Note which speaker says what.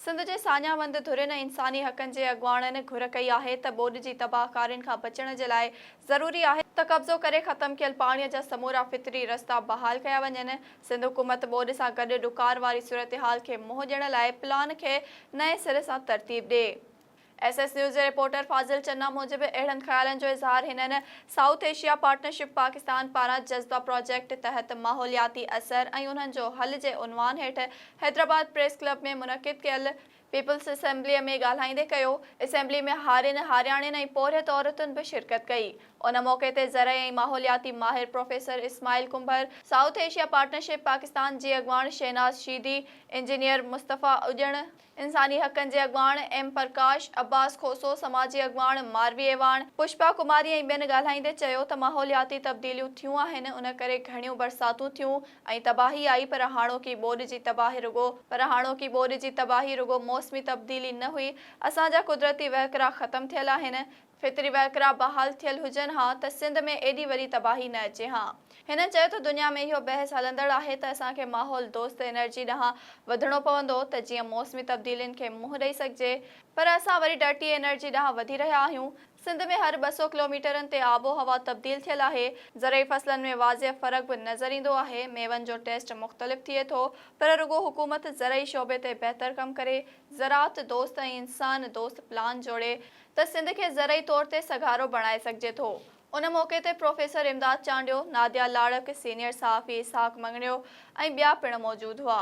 Speaker 1: سنڌ جي ساڃاهه وند ڌرين ۽ انساني حقن جي اڳواڻن گهر ڪئي آهي ته ٻوڏ جي تباهه ڪارين کان بچڻ جي لاء ضروري آهي ته قبضو ڪري ختم ٿيل پاڻي جا سمورا فطري رستا بحال ڪيا وڃن. سنڌ حڪومت ٻوڏ سان گڏ ڏڪار واري صورتحال کي منهن ڏيڻ لاء پلان کي نئين سر سان ترتيب ڏي. ايس ايس نيوز جي رپورٽر فاضل چنا موجب اهڙن خيالن جو اظهار هنن سائوٿ ايشيا پارٽنرشپ پاڪستان پاران جذبه پراجيڪٽ تحت ماحولياتي اثر ۽ انهن جو حل جي عنوان هيٺ حيدرآباد پريس ڪلب ۾ منعقد ڪيل پيپلز اسيمبليء ۾ ڳالهائيندي ڪيو، اسيمبلي ۾ هارين، هارياڻين ۽ پورهيت عورتن به شرڪت ڪئي، ان موقعي تي زرعي ۽ ماحولياتي ماهر professor Ismail Kumbhar, south Asia partnership Pakistan جي اڳواڻ شهناز شيدي، انجنيئر مصطفيٰ اڄڻ، انساني حقن جي اڳواڻ ايم پرڪاش، عباس کوسو، سماجي اڳواڻ ماروي اعواڻ، پشپا ڪماري ۽ ٻين ڳالهائيندي چيو ته ماحولياتي تبديليون ٿيون آهن ان ڪري گهڻيون برساتون ٿيون ۽ تباهي آئي پر هاڻوڪي ٻوڏ جي تباهي رڳو پر هاڻوڪي ٻوڏ جي تباهي رڳو موسمي تبديلي نه هئي اسان جا قدرتي وهڪرا ختم ٿيل آهن فطري وهڪرا بحال ٿيل هجن ها ته سنڌ ۾ ايڏي وڏي تباهي نه اچي ها. هن چيو ته دنيا ۾ اهو بحث هلندڙ آهي ته اسان کي ماحول دوست انرجي ڏانهن وڌڻو پوندو ته جيئن موسمي تبديلين کي منهن ڏئي سگهجي پر اسان وري ڊرٽي انرجي ڏانهن وڌي رهيا آهيون. سنڌ ۾ هر ٻه سؤ ڪلوميٽرن تي آب و هوا تبديل ٿيل آهي. زرعي فصلن ۾ واضح فرق به نظر ايندو آهي. ميون جو ٽيسٽ مختلف ٿئي ٿو پر رڳو حڪومت زرعي شعبي تي بهتر ڪم ڪري، زراعت دوست ۽ انسان دوست پلان جوڙي، ته سنڌ کي زرعي طور تي سگهارو بڻائي سگهجي ٿو. ان موقعي تي پروفيسر امداد چانڊيو، ناديا لاڙڪ، سينيئر صحافي اسحاق مڱڻيو ۽ ٻيا پڻ موجود هئا.